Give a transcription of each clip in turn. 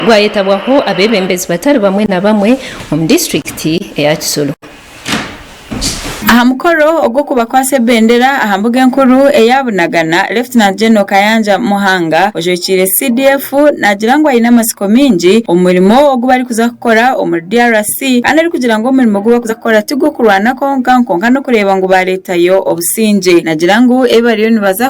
gwayetabwaho abeebembezi batari bamwe na bamwe omu disiturikiti eya Kisoro. Aha mukoro ogw'okubakwasa ebendera aha mbuga enkuru eya Bunagana, Lieutenant General Kayanja Muhanga ojwekiire CDF nagira ngu aine amatsiko maingi omu murimo ogu barikuza kukora omuri DRC kandi arikugira ngu omurimo ogu barikuza kukora ti gw'okurwana kwonka kwonka n'okureeba ngu bareetayo obusingye nagira ngu ebi bariyo nibaza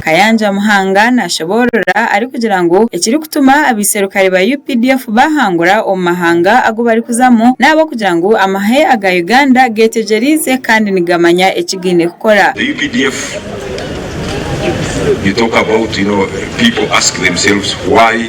Kayanja Muhanga naashoboorora arikugira ngu ekirikutuma abaiserukare ba updf baahangura omu mahanga agu barikuzamu n'ahabw'okugira ngu amahe aga Uganda geetegyereize kandi nigamanya eki gaine kukora. The updf you talk about you know people ask themselves why?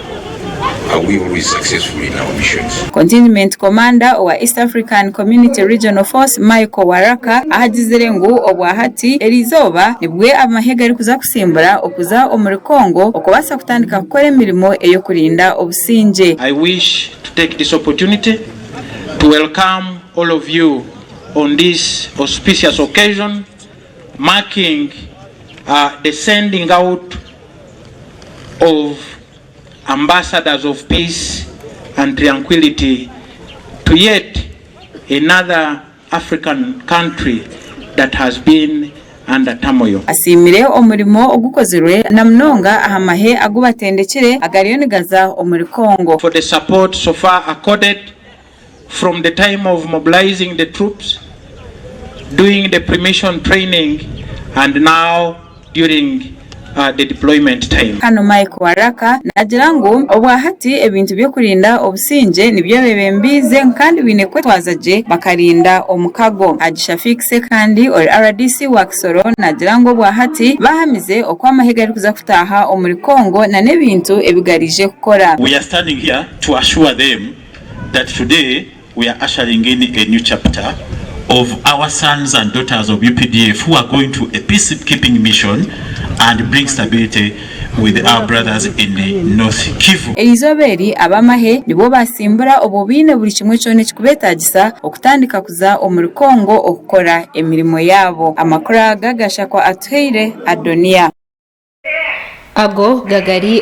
Contingment Commander owa East African Community Regional Force Michael Waraka ahagizire ngu obwahati eri izooba nibwe abamahe garikuza kusimbura okuza omuri Congo okubaasa kutandika kukora emirimo ey'okurinda obusingye. I wish to take this opportunity to welcome all of you on this auspicious occasion marking the sending out of Ambassadors of Peace and Tranquility to yet another African country that has been under turmoil. Asiimire omurimo ogukozirwe na munonga aha mahe agu batendekire agariyo nigaza omuri Congo. for the support so far accorded From the time of mobilizing the troops, doing the pre-mission training and now during the deployment time. Hanu Mike Waraka naagira ngu obwa hati ebintu by'okurinda obusingye nibyo beebembiize ngu kandi baine kwetwaza gye bakarinda omukago. Haji Shafiq Sekandi ori rdc wa Kisoro naagira ngu obwa hati baahamize oku amahe garikuza kutaaha omuri Congo nana ebintu ebi gariije kukora. We are standing here to assure them. that today we are ushering in a new chapter of our sons and daughters of updf who are going to a peace keeping mission and bring stability with our brothers in North Kivu. Eri izooba eri ab'amahe nibwo baatsimbura obwo baine buri kimwe kyona ekikubeetaagisa okutandika kuza omuri Congo okukora emirimo yaabo. Amakuru aga Gashakwa atuhaire. Adoniya. Ago gagari